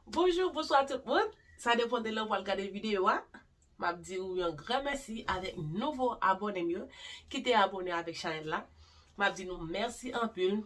Bonjou, bonswa tout moun. Sa depan de lè ou al gade videyo a. M ap di ou yon gran mèsi avèk nouvo abòne m yo ki te abòne avèk chanèl la. M ap di nou mèsi anpil.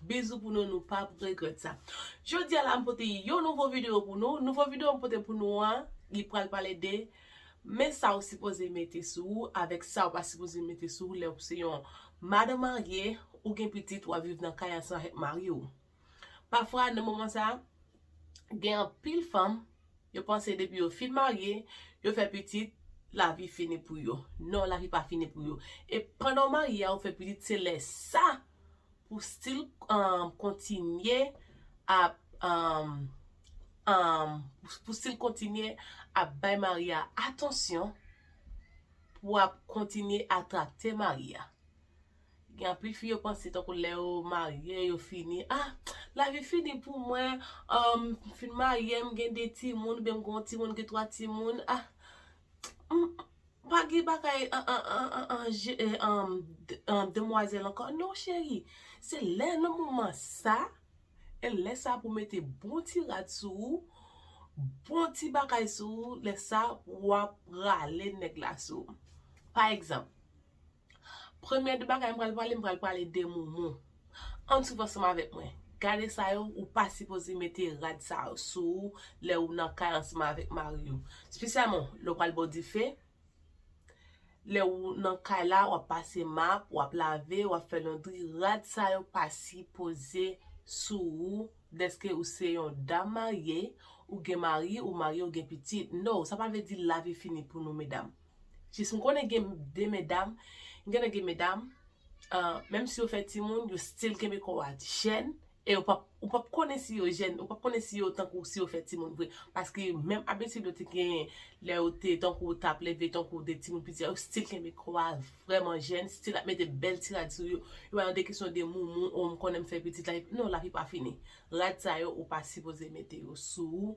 Bizou pou nou, nou pap regrèt sa. Jodi a la m pote yon nouvo videyo pou nou. Nouvo videyo m pote pou nou an, li pral pale de Men sa ou sipoze mete sou ou avèk sa ou pa sipoze mete sou ou lè ou se yon madan marye, ou gen pitit wap viv nan kay ansanm avèk mari ou. Pafwa nan moman sa, gen anpil fanm, yo panse depi yo fin marye, yo fè pitit, lavi fini pou yo. Non lavi pa fini pou yo. E pandan ou marye a ou fè pitit se lè sa Ou still kontinye ap Ou still kontinye ap bay mari a atansyon pou wap kontinye atrakte mari a Gen anpil fi yo panse tankou lè yo marye yo fini ah lavi fini pou mwen m fin marye m gen 2 timoun oubyen m gen yon timoun m gen 3 timoun ah Pa gen bagay demwazèl ankò non cheri Se lè nan moman sa E lè sa pou w mete bon ti rad sou ou Bon ti bagay sou ou Lè sa w ap rale nèg la sou ou Pa egzanp Premye de bagay m pral pale m pral pale de moumou Ann swiv ansanm avèk mwen Gade sa yo ou pa sipoze mete rad sa yo sou ou lè ou nan kay ansanm avèk mari ou spesyalman lè ou pral bo dife lè ou nan kay la wap pase map wap lave wap fè londri rad sa yo pa sipoze sou ou dèske ou se yon dam marye ou gen mari ou marye ou gen pitit no sa pa vle di lavi fini pou nou medam Jis m konnen gen de medam, genlè gen medam, menm si yo fè timoun, yo stil kenbe kò a jèn, e yo pap, ou pap konnen si yo jèn, ou pap konnen si yo tankou si yo fè timoun vre, paske menm abitid yo te genyen lè yo te tankou tap leve tankou de timoun piti a, yo stil kenbe kò a vrèman jèn, stil ap mete bèl ti rad sou yo, yo pa nan de kesyon de moumou, o m konnen m fè pitit, non lavi pa fini. Rad sa yo ou pa sipoze mete yo sou ou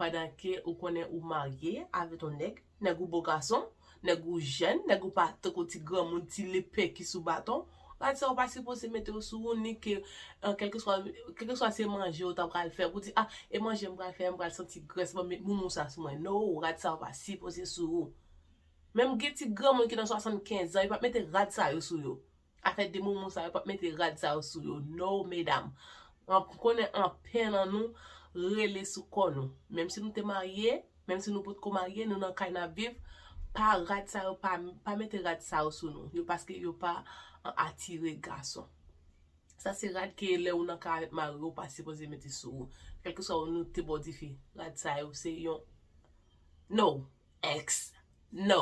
Pandan ke ou konnen ou marye avèt on nèg, nèg ou bo gason, nèg ou jèn, nèg ou pa tankou ti granmoun, ti lepè ki sou baton, gad sa ou pa sipoze mete yo sou ou ni ke kèlkeswa kèlkeswa se manje ou ta pral fè pou di ah e manje m pral fè a m pral santi grès banm met moumou sa sou mwen no rad sa pa sipoze sou ou. Menm gen ti granmoun ki nan 75 zan yo pap mete rad sa yo sou yo. Afè de momo sa yo pap mete rad sa yo sou yo no medam m konnen anpè nan nou rele sou kò nou menm si nou te marye menm si nou potko marye nou nan kay nap viv pa rad sa yo pa mete rad sa yo sou nou yo paske yo pa atire gason sa se rad ke lè ou nan kay avèk mariw ou pa sipoze mete sou ou kèlkeswa ou nou te bo dife rad sa yo se yon no ex no.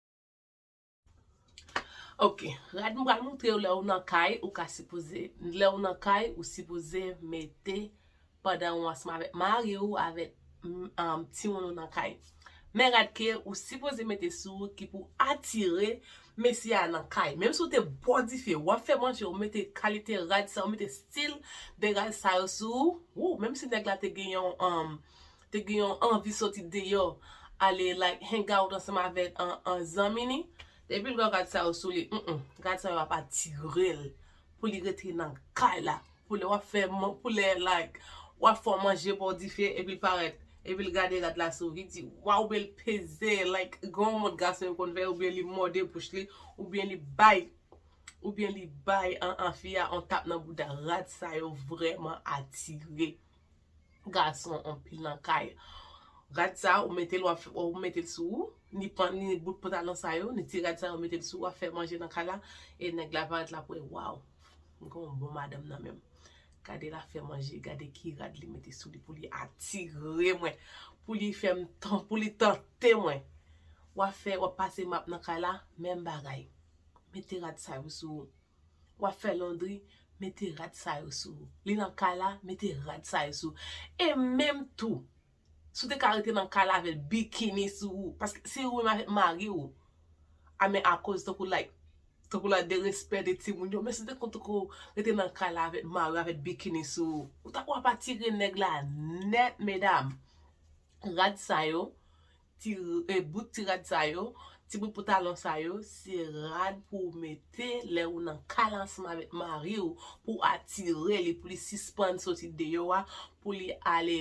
Ok rad m pral moutrew lèw nan kay ou ka sipoze lèw nan kay ou sipoze mete pandan ou ansanm avèk mariw avèk timoun ou nan kay men rad ke ou sipoze mete sou ou ki pou atire mesye a nan kay menm si ou te bò dife wap fè manje ou mete kalite rad sa ou mete stil de rad sa yo sou ou menm si nèg la te gen yon te gen yon anvi soti deyò ale like hang out ansanm avèk an zanmi ni, depil wè rad sa yo sou li humm rad sa yo ap atirel pou li rete nan kay la pou lè wap fè pou lè like wap fè w manje baw dife epil parèt epil gade rad la sou li di waw oubyen li peze like gen yon mod gason yo konn fè oubyen li mòde bouch li oubyen li bay oubyen li bay an an fi a yon tap nan bouda rad sa yo vrèman atire. gason anpil nan kay rad sa ou metel wap fè ou metel sou ou ni pan ni bout pantalon sa yo ni ti rad sa yo metel sou ou wap fè manje nan kay la e nèg la parèt lap wè waw m gen yon bon madanm nan menm gade lap fè manje gade ki rad li mete sou li pou li atire mwen pou li fèm tan pou li tante mwen wap fè wap pase map nan kay la menm bagay mete rad sa yo sou ou. wap fè londri mete rad sa yo sou ou li nan kay la mete rad sa yo sou ou e menm tou si w te ka rete nan kay la avèl bikini sou ou paske se ou menm avèk mari ou a men akoz tankou like tankou la derespè de timoun yo men si w te konn tankou rete nan kay la avèk mari ou avèk bikini sou ou ou ta wap atire nèg la nèt medam rad sa yo Ti bout ti rad sa yo, ti bout poutalon sa yo, se rad pou ou mete lè ou nan kay ansanm avèk mari ou, pou ou atire li, pou li sispann soti deyò a, pou li al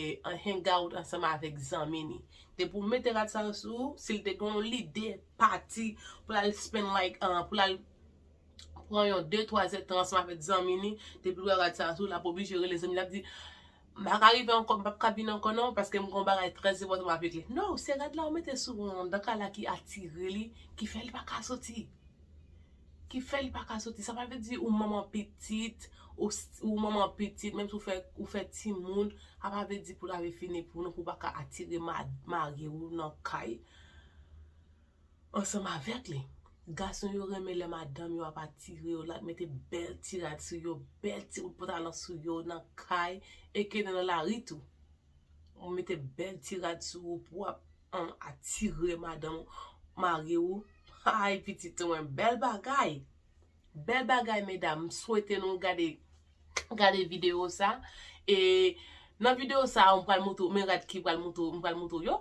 hang out ansanm avèk zanmi li. Depi ou mete rad sa yo sou ou, si li te gen yon lide pati pou l al spend like, pou l al pran yon de twa zètan ansanm avèk zanmi li, depi l wè rad sa yo sou ou, l ap oblije rele zanmi li, l ap di, M pa ka rive ankò m pap ka vin ankò non paske m gen yon bagay trè enpòtan map regle No se rad la ou mete sou ou an dan kay la ki atire li ki fè li pa ka soti ki fè li pa ka soti sa pa vle di ou manman pitit ou manman pitit menm si ou fè ou fè timoun sa pa vle di pou lavi fini pou nou pou pa ka atire mari ou nan kay. Ansanm avèk li. Gason yo renmen lè madanm yo ap atire yo, lap mete bèl ti rad sou yo, bèl ti bout pantalon sou yo nan kay e ke nan lari tou. Ou mete bèl ti rad sou ou pou ap atire madanm ou, mari ou, hay pitit ou mwen bèl bagay. Bèl bagay medam, m swete nou gade gade video sa e nan video sa mwen pral montre ou men rad ki pral montre ou, m pral montre ou yo.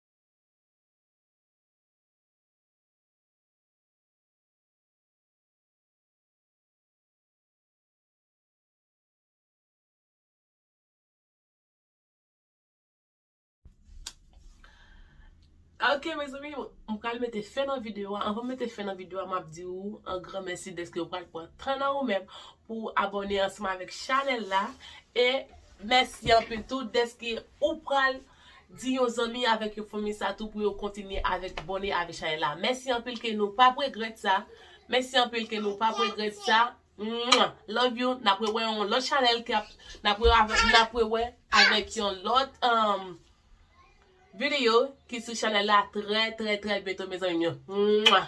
Ok mezanmi yo, m pral mete fen nan videyo a. Anvan m mete fen nan videyo a, m ap di ou an gran mèsi dèske ou pral pran tan nan ou menm pou w abòne ansanm avèk chanèl la. E mèsi anpil tou dèske ou pral Di yon zanmi avèk yon fanmi sa tou pou yo kontinye avèk bone avèk chanèl la mèsi anpil ke nou pap regrèt sa mèsi anpil ke nou pap regrèt sa mwah love you nap rewè yon lòt chanèl kap nap rewè avèk nap rewè avèk yon lòt um video ki sou chanèl la trè trè trè byento mezanmi m yo mwah.